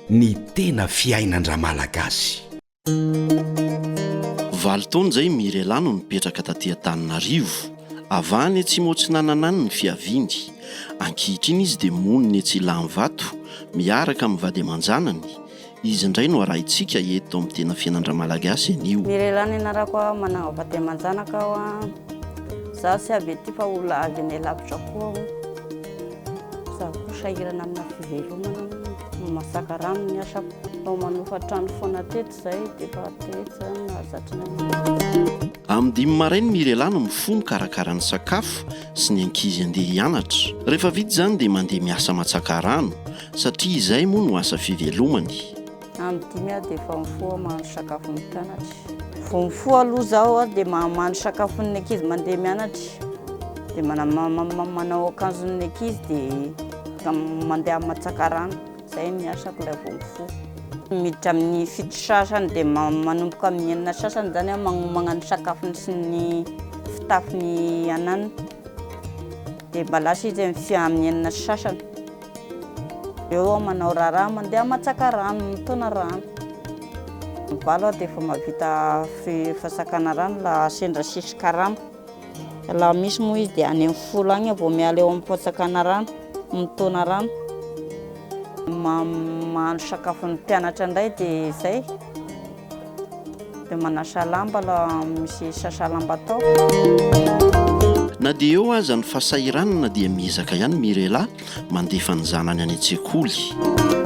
Ny tena fiainan-dRamalagasy. Valo taona izay i Mirela no nipetraka taty Antananarivo. Avy any Atsimo Atsinanana any ny fiaviany. Ankehitriny izy dia monina etsy Ilanivato, miaraka amin'ny vady aman-janany, Izy indray no arahintsika eto amin'ny tena fiainan-dRamalagasy anio. Ny lehilahy nianarako aho manangako aty aman-janaka aho a. Izaho tsy avy ety fa olona avy any alavitra koa aho. Izaho koa sahirana amina fivelomana, mamasaka rano ny asako. Vao manofa trano foana teto izay dia efa teto izany no nahazatra anay. Amin'ny dimy maraina i Mirela no mifoha mikarakara ny sakafo sy ny ankizy handeha hianatra. Rehefa vita izany dia mandeha miasa aman-tsaka rano. Satria izay moa no asa fivelomany. Andro dimy aho dia efa mifoha mahandro sakafon'ny mpianatra. Vao mifoha aloha izaho dia mahandro sakafon'ny ankizy mandeha mianatra. Dia manao akanjon'ny ankizy dia mandeha matsaka rano. Izay ny asako ilay vao mifoha. Miditra amin'ny fito sasany dia manomboka amin'ny enina sasany izany aho magnomagna ny sakafony sy ny fitafiny ananany. Dia mba lasa izy amin'ny enina sy sasany. Eo aho manao raharaha, mandeha matsaka rano, mitona rano. Ny valo aho dia efa mahavita fasakana rano raha sendra sisy karama. Raha misy moa izy dia any amin'ny folo any aho vao miala eo amin'ny fasakana rano, mitona rano. Mahandro sakafo ny mpianatra indray dia izay. Dia manasa lamba la misy sasa lamba atao. Na dia eo aza ny fasahiranana dia miezaka ihany Mirela mandefa ny zanany any an-tsekoly.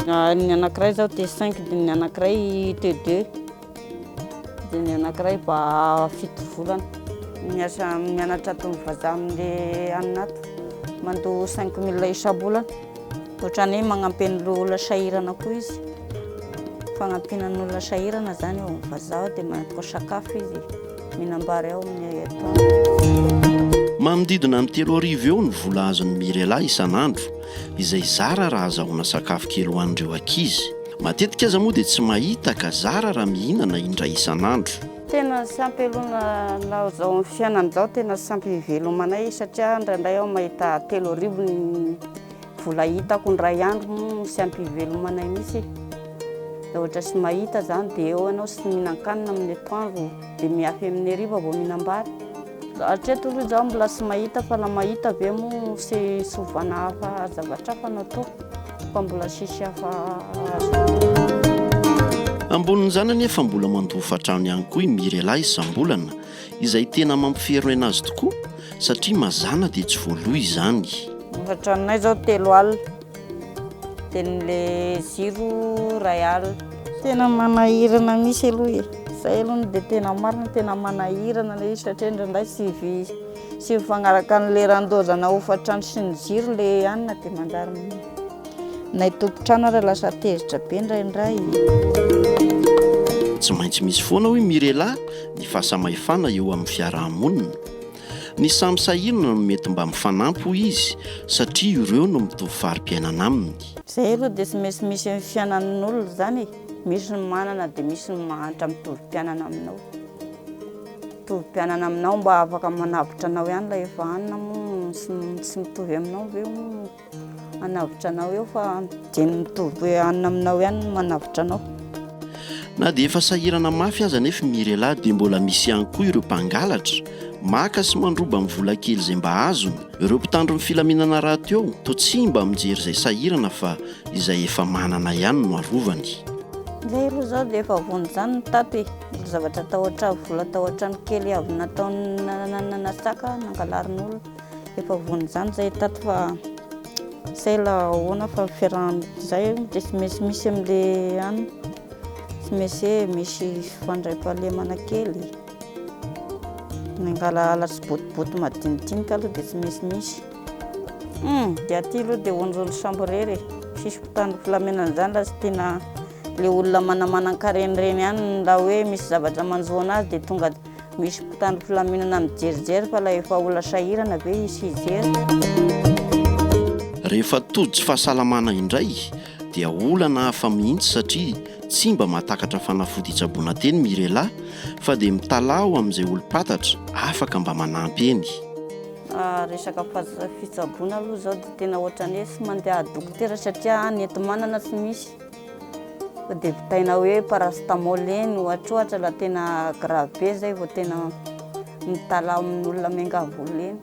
Ny anankiray izao dia cinq dia ny anankiray te deux dia ny anankiray ba fito volana. Miasa mianatra atony vazaha amin'ilay any nato mandoa cinq mille isam-bolana. Ohatran'ny hoe magnampy an'ny olona sahirana koa izy. Fagnampiana ny olona sahirana izany eo amin'ny vazaha dia manatona sakafo izy, mihinam-bary ao amin'ny heritanany. Manodidina ny telo arivo eo ny vola azon'i Mirela isan'andro, izay zara raha azahoana sakafo kely ho an'ireo ankizy. Matetika aza moa dia tsy mahita ka zara raha mihinana indray isan'andro. Tena tsy ampy aloha na izao amin'ny fiainana izao tena tsy ampy hivelomana ahy satria indraindray aho mahita telo arivo ny vola hitako indray andro moa tsy ampy hivelomana ahy mihitsy e. Raha ohatra tsy mahita izany dia eo ianao tsy mihinan-kanina amin'ny atoandro dia miafy amin'ny hariva vao mihinam-bary. Hatreto aloha izaho mbola tsy mahita fa raha mahita ve moa sy sovana hafa zavatra hafa no atao fa mbola tsisy hafa azoko. Ambonin'izany anefa mbola mandoa hofan-trano ihany koa i Mirela isam-bolana izay tena mampiferoy aina azy tokoa satria mazàna dia tsy voaloa izany. Ny hofan-tranonay izao telo alina Tenin'le ziro ray alina. Tena manahirana misy aloha e. Zay aloha no dia tena marina, tena manahirana ilay izy satria indraindray tsy tsy mifagnaraka amin'ny leran-doza na hofan-trano sy ny jiro ilay hanina dia manjary na ny tompon-trano ary lasa tezitra be indraindray. Tsy maintsy misy foana hoy Mirela ny fahasamahefana eo amin'ny fiaraha-monina. Ny samy sahirana no mety mba mifanampy hoy izy satria ireo no mitovy fari-piainana aminy. Izay aloha dia tsy maintsy misy amin'ny fiainan'olona izany e, misy ny manana dia misy ny mahantra mitovy mpianana aminao, mitovy mpianana aminao mba afaka manavotra anao ihany ilay efa hanina moa tsy mitovy aminao ve hono. Hanavotra anao eo fa dia ny mitovy hanina aminao ihany no manavotra anao. Na dia efa sahirana mafy aza anefa i Mirela dia mbola misy ihany koa ireo mpangalatra, maka sy mandroba amin'ny vola kely izay mba azony. Ireo mpitandro ny filaminana rahateo toa tsy mba mijery izay sahirana fa izay efa manana ihany no arovany. Ilay roa izao dia efa vonona izany ny tato e! Mbola zavatra tao an-trano, vola tao an-trano kely avy nataony nananana saka nangalarin'olona. Efa voan izany zay tato fa tsy hay la ahoana fa fiarahan zay de tsy maintsy misy am le an tsy maintsy hoe misy fifandraipahalemana kely mangala ala sy botiboty madinidinika aloha de tsy maintsy misy hum de aty aloha de onjony sambo rery e tsisy mpitandro filamenana zany la tsy tiana le olona manamanan-kareny reny any la hoe misy zavatra manjo anazy de tonga Misy mpitandro filaminana mijerijery fa ilay efa olona sahirana ve izy hijery? Rehefa tojo fahasalamana indray dia olana hafa mihitsy satria tsy mba mahatakatra fanafody hitsaboana teny Mirela fa dia mitalaho amin'izay olom-patatra afaka mba manampy eny. Resaka fitsaboana aloha izao dia tena ohatran'ny hoe tsy mandeha dokotera satria any enti-manana tsy misy. Dia vitaina hoe paracétamol eny ohatrohatra raha tena grave be izay vao tena mitalaho amin'olona miangavy eny.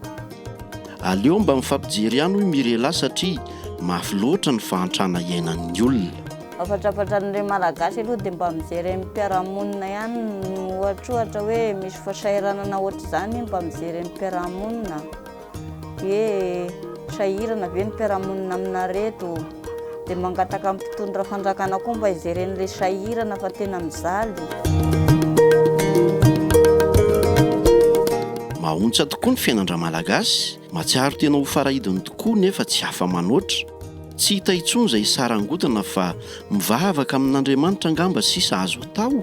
Aleo mba mifampijery ihany hoy Mirela satria mafy loatra ny fahantrana iainan'ny olona. Afatrafatra ny re Malagasy aloha dia mba mijery eny mpiarahamonina ihany ohatrohatra hoe misy fasahiranana ohatr'izany mba mijery eny mpiarahamonina. Ee, sahirana ve ny mpiara-monina aminareto? Dia mangataka amin'ny mpitondra fanjakana koa mba hijereny ilay sahirana fa tena mijaly. Mahaontsa tokoa ny fiainan-dRamalagasy, mahatsiaro tena ho farahidiny tokoa nefa tsy afa-manoatra. Tsy hita intsony izay sarangotana fa mivavaka amin'Andriamanitra angamba sisa azo atao?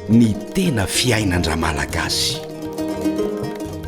Ny tena fiainan-dRamalagasy.